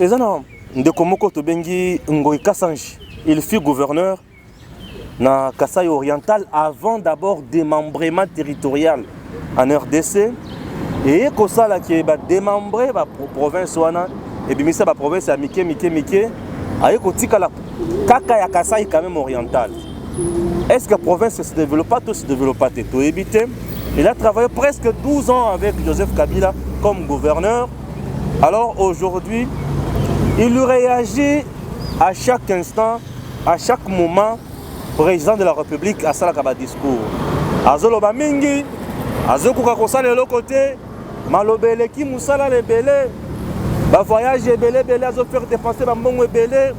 eza na ndeko moko tobengi Ngoy Kasanji il fut gouverneur na Kasaï oriental avant d'abord démembrement territorial en RDC eye kosala ke badémembre baprovince wana ebimisa baprovince ya mike mike mike aye kotikala kaka ya Kasaï quand même oriental est ce que province se développa to se développa te toyebi te il a travaillé presque 12 ans avec Joseph Kabila comme gouverneur Alors aujourd'hui, il réagit à chaque instant, à chaque moment, président de la République à Salakaba discours. Azoloba mingi, azokuka kosala eloko te, maloba eleki mosala lebele, ba voyage ebele ebele azofaire dépenser bambongo ebele,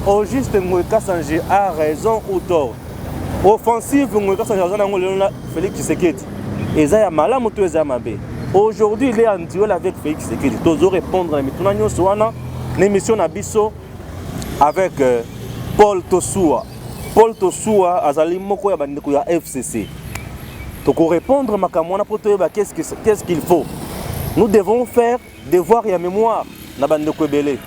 au juste Ngoy Kassange a raison ou tort. offensive ngoyi kasi aza nango lelo na Felix Tshisekedi eza ya malamu to eza ya mabe aujourd'hui il est en duel avec Felix Tshisekedi tozo répondre na mituna nyonso wana na émission na biso avec euh, Paul Tosua Paul Tosua azali moko ya bandeko ya FCC tokorépondre makambo wana mpo toyeba qu'est-ce qu'il faut nous devons faire Devoir ya memoire na ba ndeko ebele.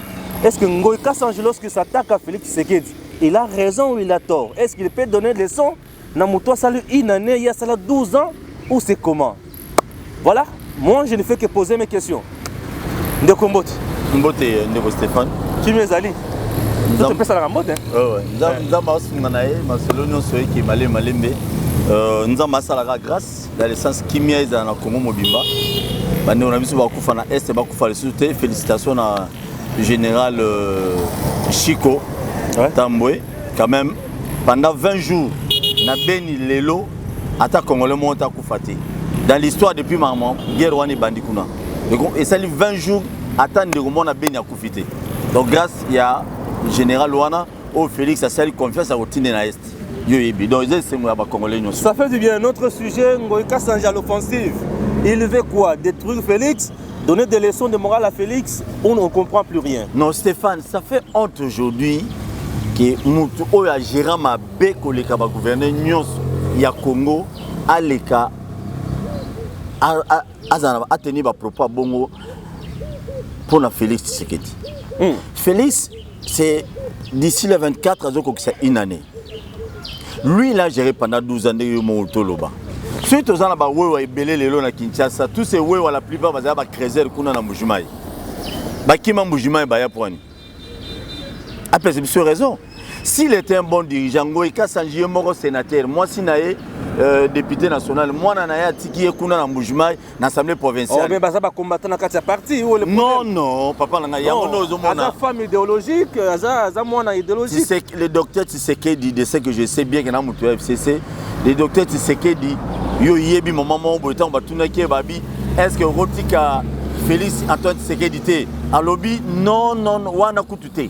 Est-ce que Ngoy Kassange lorsque s'attaque à Félix Tshisekedi, il a raison ou il a tort? Est-ce qu'il peut donner des leçons na moto asali une année, il y a sala 12 ans ou c'est comment? Voilà, moi je ne fais que poser mes questions. Ndeko Mbote. Mbote euh, ndeko Stéphane. Kimia ezali. Nzambe pesalaka mbote. Oh, ouais. Nzambe asunga na ye masolo nyonso ekema le malembe. Euh, Nzambe asalaka grâce dans le sens kimia ezala na Congo mobimba bandeko na biso bakufa na est bakufa lisusu te félicitation na général euh, Chico ouais. Tambwe quand même pendant 20 jours na beni lelo ata congolais moko te akufa te dans l'histoire depuis mama guerre wana ebandi kuna esali 20 jours ata ndeko moko na beni akufi te donc grâce ya général wana oyo Felix asali confiance ya kotinde na est yo yebi donc eza esengo ya bakongole nyonso ça fait du bien notre sujet ngoyi kasanja l'offensive il veut quoi détruire Felix donner des leçons de morale à Felix on ne comprend plus rien non Stéphane ça fait honte aujourd'hui que mutu oyo agera mabe koleka bagouverne nyonso ya Congo aleka azala ateni bapropos ya bongo mpo na Felix Tshisekedi hmm. Felix c'est d'ici le 24 azokokisa une année lui il a géré pendant 12 ans ndenge yo moko toloba soki toza na bawewa ebele lelo na kinshasa tous ces wewa la plupart bazala bacreser kuna na mbujimayi bakima mbujimayi baya pwani apesa biso raison s'il était un bon dirigeant ngoi kasanji ye moko sénateur mwasi na ye euh, député national mwana na ye atiki ye kuna na mbujimayi na assemblée provinciale. Oh, mais baza ba combattant na kati ya parti ou le problème? Non non, papa na ngai yango ndio ozo mona. Aza femme idéologique, aza aza mwana idéologique. C'est le docteur Tshisekedi de ce que je sais bien que na mutu FCC, le docteur Tshisekedi yo yebi maman moko boye ntango batunaki ye babi est-ce que okotika Félix Antoine Tshisekedi te alobi non non wana kutu te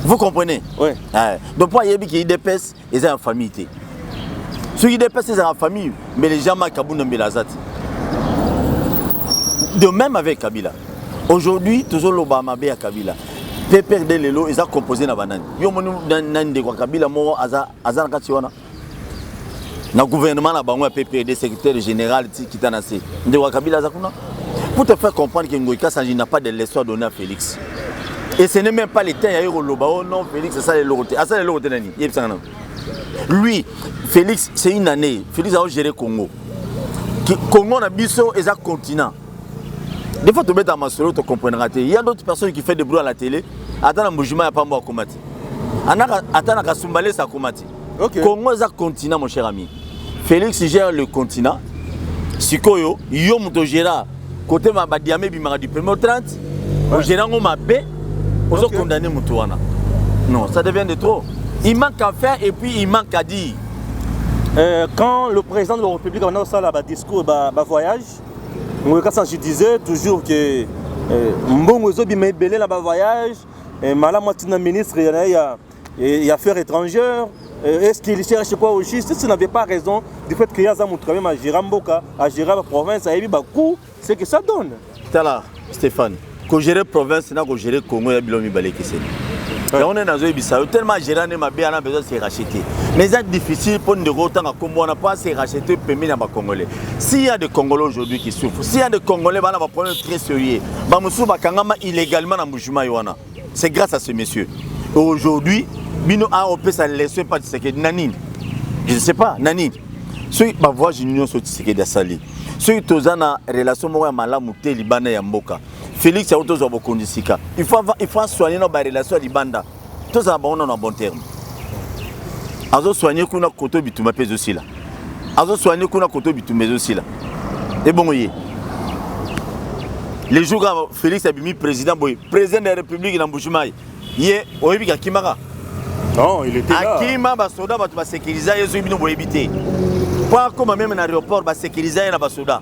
vous comprenez ouais. eh, donc mpo ayebi ke idps eza ya famille te soki dps ezalaka famille mbele jean marc kabunda mbele aza te de même avec kabila aujourd'hui tozoloba mabe ya kabila pprd lelo eza composé na banani yo omoni na ndeko ya kabila moko aza, aza na kati wana na gouvernement na bango ya pprd secrétaire général ti kita na se ndeko ya kabila aza kuna pour te faire comprendre que ngoikasa n'a pas de leçon à donner à félix et ce n'est même pas le temps ya ye koloba oh non félix asala eloko te asala eloko te nani yebisanga nano lui félix c'est une année félix aogere congo congo na biso eza continent des fois tobeta masolo tocomprendra te ya d'autres personnes qui fait de bruit à la télé ata na mbujima ya pambo akoma te ata na kasumbalesa akoma te okay. congo eza continent mon cher ami félix gère le continent sikoyo yo moto ogera kote badiama ebimaka du premier au 30 ogera yango mabe ozo okay. condamne moto wana non ça devient de trop il manque à faire et puis il manque à dire euh, quand le président de la république abanda kosala badiscours bavoyage ba ngoyo kasi je disais toujours que euh, mbongo ezobima ebele na bavoyage eh, malamu atina ministre ya, ya, et affaires étrangères euh, est-ce qu'il cherche quoi au juste si n'avait pas raison du fait que ye aza moto quand même agéra mboka agéra baprovince ayebi bacout ce que ça donne tala stéphane kogere province na kogere congo ya bilo mibale ekeseni yango nde nazoyebisa yo tellement agéra nde mabe ana besoin se racheter mais eza difficile mpo ndeko otanga nkombo wana mpo ase racheter pembeni ya bacongolais si ya de congolais aujourd'hui qui souffre si ya de congolais bana baproblème très sérieux bamosusu bakangama illégalement na mbujimayi wana c'est grâce à ce monsieur aujourd'hui bino a ah, opesa leso epa tisekedi na nini je ne sais pas na nini soki bavoyage nyonso tisekedi asali soki toza na relation moko ya malamu te libanda ya mboka félix yango tozwa bokonzi sika il faut asoigne na barelation ya libanda tozala bango nano na bon terme azosoigne kuna koto bituma mpe ezosila azo soigner kuna koto bitumba ezo sila ebongo ye le jour kaka félix abimi président boye président de la république na mbujimayi ye oyebi kakimaka non il était là akima basoda bato basekiriza ye soki bino boyebi te mpo akoma meme na aéroport basekiriza ye na basoda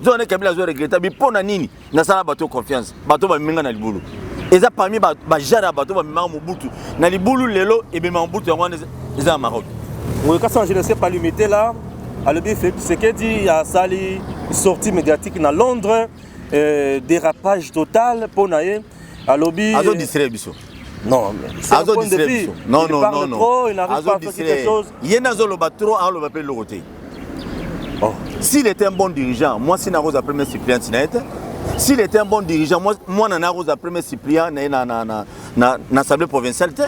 nzoka nde kabila azo regreta bi mpo na nini nasala bato yo confiance bato oyo bamemi ngai na libulu eza parmi bajare ya bato oyo bamemaka mobutu na libulu lelo ebemaka mobutu yango wana eza na maroc Oui, quand je ne sais pas limiter là, à l'objet Sekedi a sali sortie médiatique dans Londres, euh, dérapage total pour naïe. À l'objet. Azo distraire biso. Non, c'est un point de vue. Non, non, non, non. Trop, il n'arrive pas à faire quelque chose. Il y a un zolo trop, on le va pas le roter. Oh. S'il était un bon dirigeant, moi si nakoza premier suppléant na ye te. S'il était un bon dirigeant, moi mwana nakoza premier suppléant na ye na na na na, na assemblée provinciale te.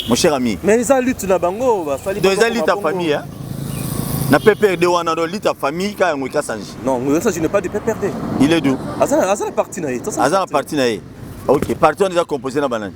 Mon cher ami. Mais eza lutte na bango basali. Donc eza lutte ya famille hein. Na PPRD wana do lutte ya famille ka yango ikasanji. Non, mais ça je n'ai pas de PPRD. Il est d'où? Azana azana parti na ye. Azana parti na ye. Ok, parti wana eza composé na banani?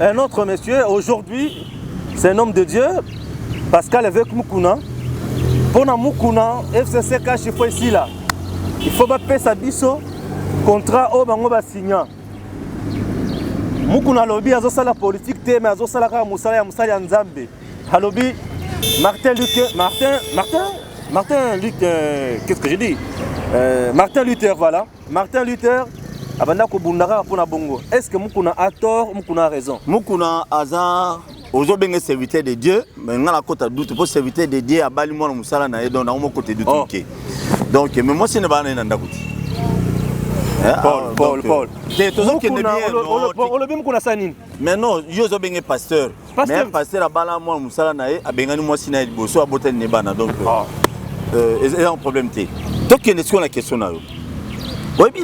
Un autre monsieur, aujourd'hui, c'est un homme de Dieu, Pascal avec Mukuna. Pour Mukuna, FCC cache, il faut ici là. Il faut pas sa biso, contrat au bango ba signant. Mukuna lobi azosala politique te mais azosala kaka musala ya musala ya Nzambe. Alobi Martin Luther, Martin, Martin, Martin Luther, euh, qu'est-ce que j'ai dit euh, Martin Luther, voilà. Martin Luther abanda kobunda kaka mpo na bongo. Est ce que Mukuna a tort, Mukuna a raison? Mukuna aza ozobenge serviteur de dieu me ngai nakota dute mpo serviteur de dieu abali mwana mosala na ye donc nango mokote dute oh. moke donc me mwasi ne baa na ye na ndako te eh, ah, olobi mokuna sa nini mais non yo ozobenge pasteur mais pasteur abala mwana mosala na ye abengani mwasi na ye liboso abotani ne bana donc ah. euh, eza problème te tokende sikoyo na question na yo oyebi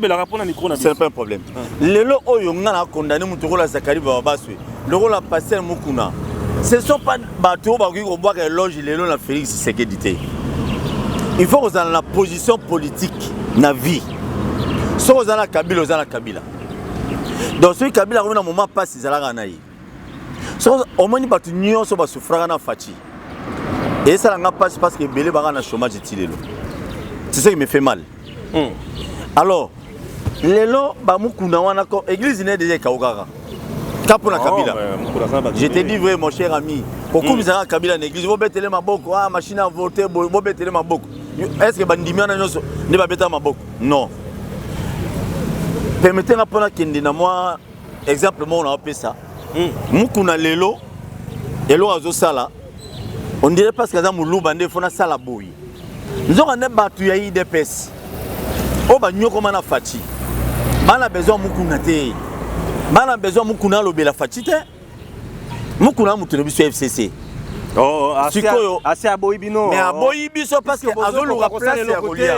leloce'est pas un problème lelo oyo nga na condamne moto okola zakari bababaswe lokola pasteur mokuna ce sont pas bato oyo bakoki kobwaka eloge lelo na félix sekedi te il faut kozala na position politique na vie soki oza na kabila oza na kabila donc soki kabila akomi na moment mpasi ezalaka na ye so omoni bato nyonso basufraka na faci esala nga mpasi parce que ebele baka na chômage ti lelo c'est ce qui me fait mal mm. alors lelo bamukuna wana église ne deja ekaukaka ka mpo na oh, kabila je te dis vrai mon cher ami kokumisaka hmm. kabila na église bobetele maboko ah machine à voter bobetele maboko est ce que bandimi wana nyonso nde babetaka maboko non permete nga mpo nakende na mwa exemple moko na opesa hmm. mukuna lelo eloko azosala on dirait parce que aza moluba nde fo nasala boye nzoka nde bato ya idps oyo banyokoma na faci bana besoin mukuna te bana besoin mukuna alobela faci te mukuna ya moto na biso ya fcc Oh, oh, sikoyo asi aboyi bino mais aboyi biso parceke azoluka place ya kolia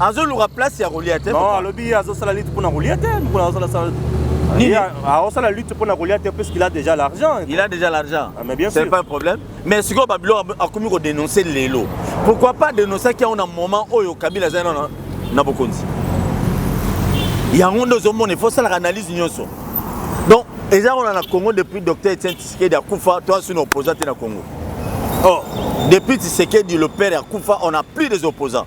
azoluka place ya kolia te alobi azosala liti mpona kolia te mokolo azosalasala aosala lutte mpona kolia te puisqu'il a déjà l'argent il a déjà l'argent ah, mais bien sûr c'est pas un problème mais sikoyo babiloko akomi kodenonce lelo pourquoi pas denonsaki yango na moment oyo kabila azali na, na bokonzi yango nde ozomona ifo osalaka analyse nyonso donc eza wana na congo depuis docteur etienne tisikedi akufa to asuni opposant te na congo or oh, depuis tisikedi le père akufa on a plus des opposants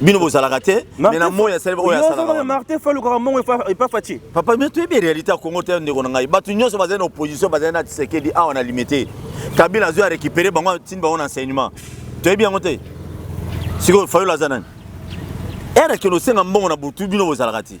bino bozalaka te mais na moi asali oyo asalaka martin fa alukaka mbongo epa faci papa bino toyebi réalité ya congo te ndeko na ngai bato nyonso bazali na opposition bazali na tisekedi awa na limite kabila azwi arécupere bango atindi bango na enseignement toyebi yango te sikoyo fayolo aza nani ere kende osenga mbongo na butu bino bozalaka te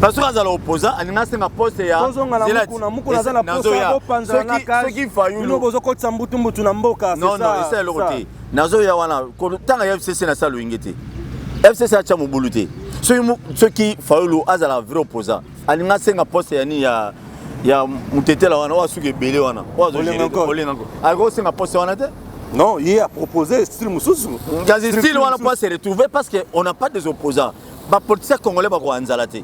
Pasoko eh, azala opposant alinga asenga poste ya tozonga na mukuna mukuna aza na poste ya bopanzala na kasoki fayulu bino bozokotisa mbutumbutu na mboka non non esa eloko te nazoya wana kotanga ya fcc na sala loyenge te fcc atya mobulu te soki fayulu azala vrai opposant alinga asenga poste ya nini ya ya mutetela wana oyo asuki ebele wana oyo azolenga ngo akosenga poste wana te Non, il a proposé style Moussous. Style, on n'a pas se retrouver parce qu'on n'a pas des opposants. ba politiciens congolais ba koanzala te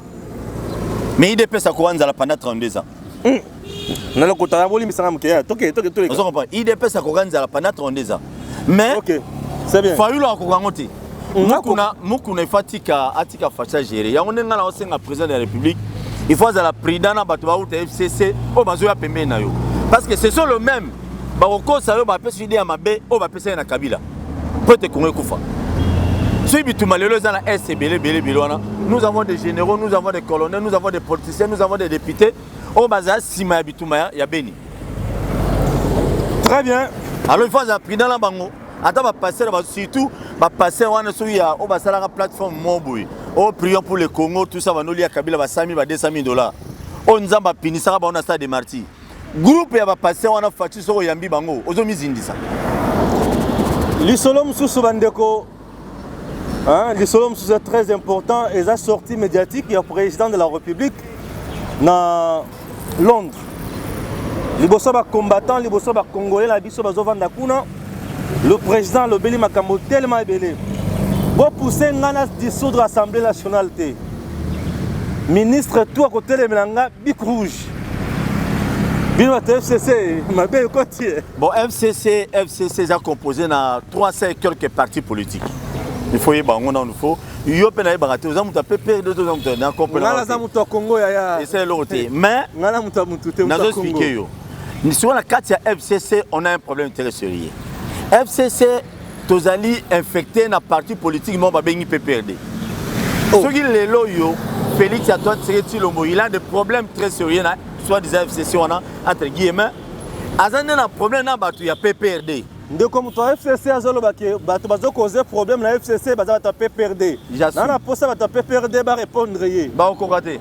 mais idps akoanzala pendant 32 ans mm. na lokota ya bolimbisa nga moke toke toke toke ozo comprendre idps akoka nzala pendant 32 ans mais okay. c'est bien fayulu akoka yango te mm, mukuna mukuna ifa atika atika facha gere yango ndenge nga na osenga président de la république il faut azala prudent na bato bauta fcc oyo bazoya pembeni na yo parce que ce sont le même bakokosa yo bapesi yo ide ya mabe oyo bapesaki na kabila mpo ete kongo ekufa soki bituma lelo eza na est ebele ebele ebele wana nous avons des généraux nous avons des colonels nous avons des politiciens nous avons des députés oyo bazala nsima ya bituma ya, ya beni très bien alors il faut azala prudent na bango ata bapastere surtout bapastere wana soki ya oyo basalaka plateforme moko boye oyo prion pour le congo tout ça banoli ya kabila ba 100 000 ba 200 000 dollars oyo nzambe apinisaka bango na stade de martyr Groupe ya ba patient wana Fatshi soko yambi bango ozo mizindisa. Lisolo mususu bandeko Hein, lisolo mosusu très important eza sortie médiatique ya président de la république na londres liboso bacombattant liboso bacongolais na biso bazovanda kuna le président alobeli makambo telema ebele bopousse ngai na dissoudre assemblée nationale te ministre tu akotelemela ngai bic rouge bino bato ya fcc mabe ekoti ye bon fcc fcc eza composé na 300 quelque parti politique il faut yeba yango nanu faut yo mpe nayebaka te oza moto ya ppr de oza moto na comprenala aza moto ya congo yaya esa eloko te mais ngai na moto ya motu te nazo explike yo sikoyo na kati ya fcc on a un problème très sérieux fcc tozali infecte na parti politique moko babengi pprd oh. soki lelo oyo félix antoine tseke tilombo il a des problèmes très sérieux na soit disant fcc wana entre guillemets aza nde na problème na bato ya pprd ndeko moto ya fcc azoloba ke bato bazokoze problème na fcc baza bato ya pprd na na mposa bato ya pprd barépondre ye bakokoka te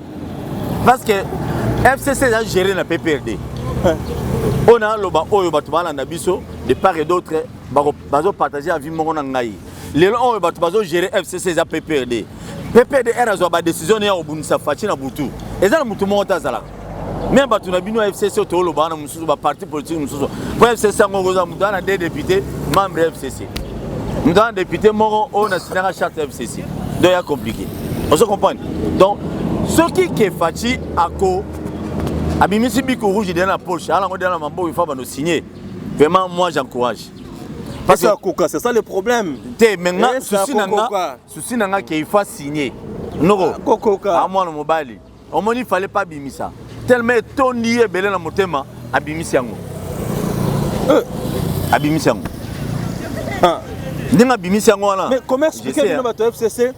parce que fcc eza géré na pprd oyo naloba oyo bato balanda biso de part et d'autre bako bazo partager avis moko na ngai lelo oyo bato bazo gérer fcc eza pprd ppdr azwa ba décision ne ya kobundisa faci na butu eza na motu moko te azalaka me bato na bino ya fcc oyo toolobaka na mosusu baparti politike mosusu mpo fcc yango okozwa moto wana de député membre ya fcc moto wana député moko oyo na sinaka charte ya fcc donc ya compliqué ozo comprendre donc soki ke faci ako abimisi biko rouge dela na poche alango dela na maboko ifa bano signe Vraiment, moi j'encourage. Parce que Koka, c'est ça le problème. T'es maintenant, eh, souci nanga, souci nanga qu'il faut signer. Noro, ah, Kokoka. À moi, le mobile. Au moins, il fallait pas bimer ça. Tellement ton lié, belé, la motema, à bimer ça. Euh. À bimer ça. Ah. ndenge abimisi yango wana mais comment expliquer bino bato ya fcc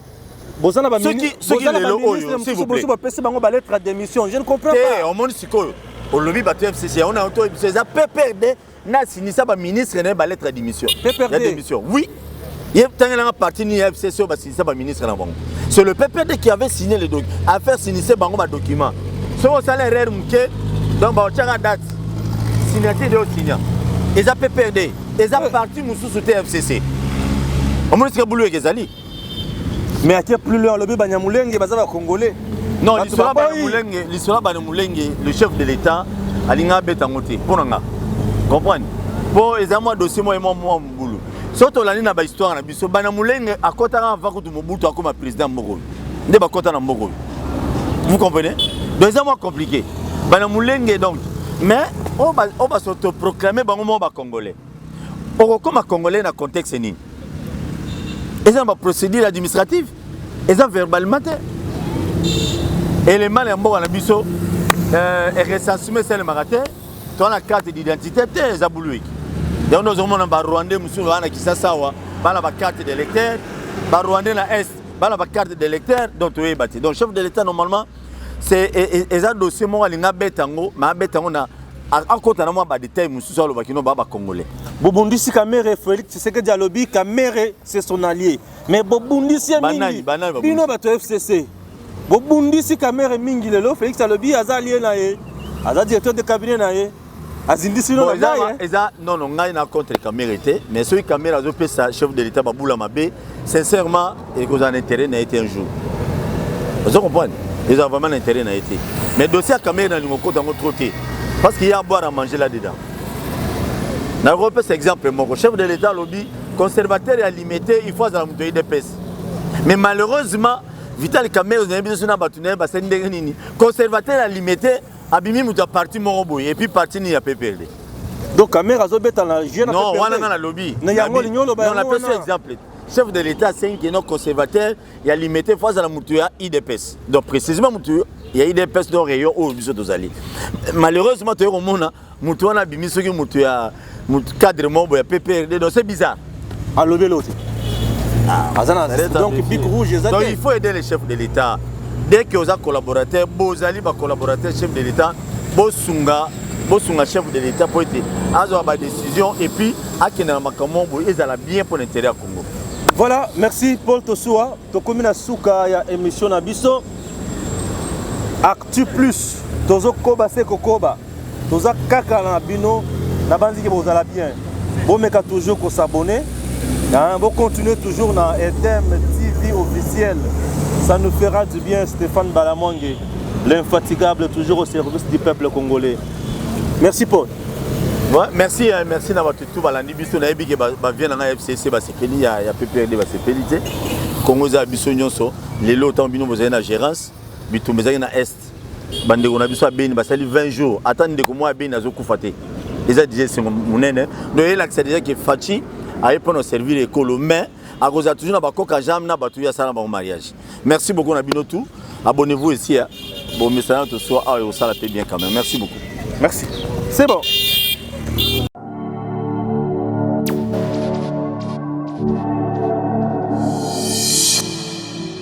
boza na baministre bapesi bango balettre ya démission je ne comprends pas omoni sikoyo olobi bato ya fcc yango na oto biso eza pprd na sinisa baministre na ye balettre ya démission ya démission oui ye tangelanga parti nini ya fcc oyo basinisa baministre na bango c'est le pprd qui avait signé le document affaire sinise bango badocument soki osala erreur moke donc baotyaka date signature de osinya eza pprd eza parti mosusu te ya fcc omonisika bulu eke ezali mais ake plus loin alobi banyamulenge baza bacongolais non lisolo banyamulenge lisolo banyamulenge le chef de l'état alinga abeta yango te mpo na nga comprendre mpo eza mwa dossier mwa mwa mwa mobulu soki tolandi na bahistoire na biso banyamulenge akotaka avant kutu mobutu akoma président mboka oyo nde bakota na mboka oyo vous comprenez donc eza mwa compliqué banyamulenge donc mais oyo basotoproclame bango moko bacongolais okokoma congolais na contexte nini eza na baprocédure administrative eza verbalement te elemana ya mboka na biso euh, recensement esalemaka te toa na carte d'identité te eza buluiki yango nde ozomona barwandais mosusu baa na kisasa awa baa na bacarte d'électeur barwandais na est baa na bacarte d'électeur donc toyeba te donc chef de l'état normalement C'est e, e, eza dossier moko alinga beta yango, mais abeta yango na akota na mwa ba détails mosusu aloba kino ba ba congolais. Bobundisi Kamere, Felix Tshisekedi alobi Kamere c'est son allié. Mais bobundisi ye Banani, mingi. banani babundisi? Bino bato ya FCC. Bobundisi Kamere mingi lelo, Felix alobi aza allié na ye. Aza directeur de cabinet na ye. azindisi no na ngai eh. eza non non ngai na contre Kamere te mais soki Kamere azopesa chef de l'État babula mabe sincèrement ekozala na intérêt na ye te un jour ozo comprendre ezala vraiment na intérêt na ye te mais dossier ya Kamere na lingo kota yango trop te parce qu'il y a à boire à manger là dedans nakopesa exemple moko chef de l'État alobi conservateur ya limete il faut azala moto ya idps mais malheureusement vital Kamere ozayebi biso na bato na ye basali ndenge nini conservateur ya limete Abimi moto ya parti moko boye epuis parti nini ya PPRD donc kamere azobeta na jeu na non wana nga nalobi na yango olingi oloba yango wana napesa exemple chef de l'état asengi kino conservateur ya limete fo azala moto ya idps donc précisément moto ya idps donc rayon oyo biso tozali malheureusement toye komona Mutu wana bimi soki mutu ya mutu cadre mobo ya PPRD donc c'est bizarre. Alobi l'autre. Ah, azana donc big rouge ezate. Donc il faut aider les chefs de l'État. Dès que oza collaborateur, bozali ba collaborateur chef de l'État, bosunga bosunga chef de l'État pour être azo ba décision et puis akenda makambo boye ezala bien pour l'intérêt ya Congo. Voilà, merci Paul Tosua. Tokomi na suka ya émission na biso. Actu Plus, tozo koba se kokoba. toza kaka na bino nabanzi ke bozala bien bomeka toujours kosabone bocontinue toujours na etm tv officiel ça nous fera du bien stéphane balamwange l'infatigable toujours au service du peuple congolais merci paul Ouais, merci hein, merci na bato tout balandi biso nayebi ke bavie na ngai fcc basepeli ya, ya pprd basepeli te congo eza ya biso nyonso lelo ntango bino bozali na gérance bitumba ezalaki na est bandeko na biso ya beni basali 20 jours ata ndeko moko ya beni azokufa te eza deja esengo monene donc elakisa deja ke faci aye mpona servir ekolo mais akozala toujours na bakoka jame na bato oyo asala na bango mariage merci beaucoup na bino tout abonnez-vous ici ya bomesana tosua awa ekosala mpe bien quand même merci beaucoup merci c'est bon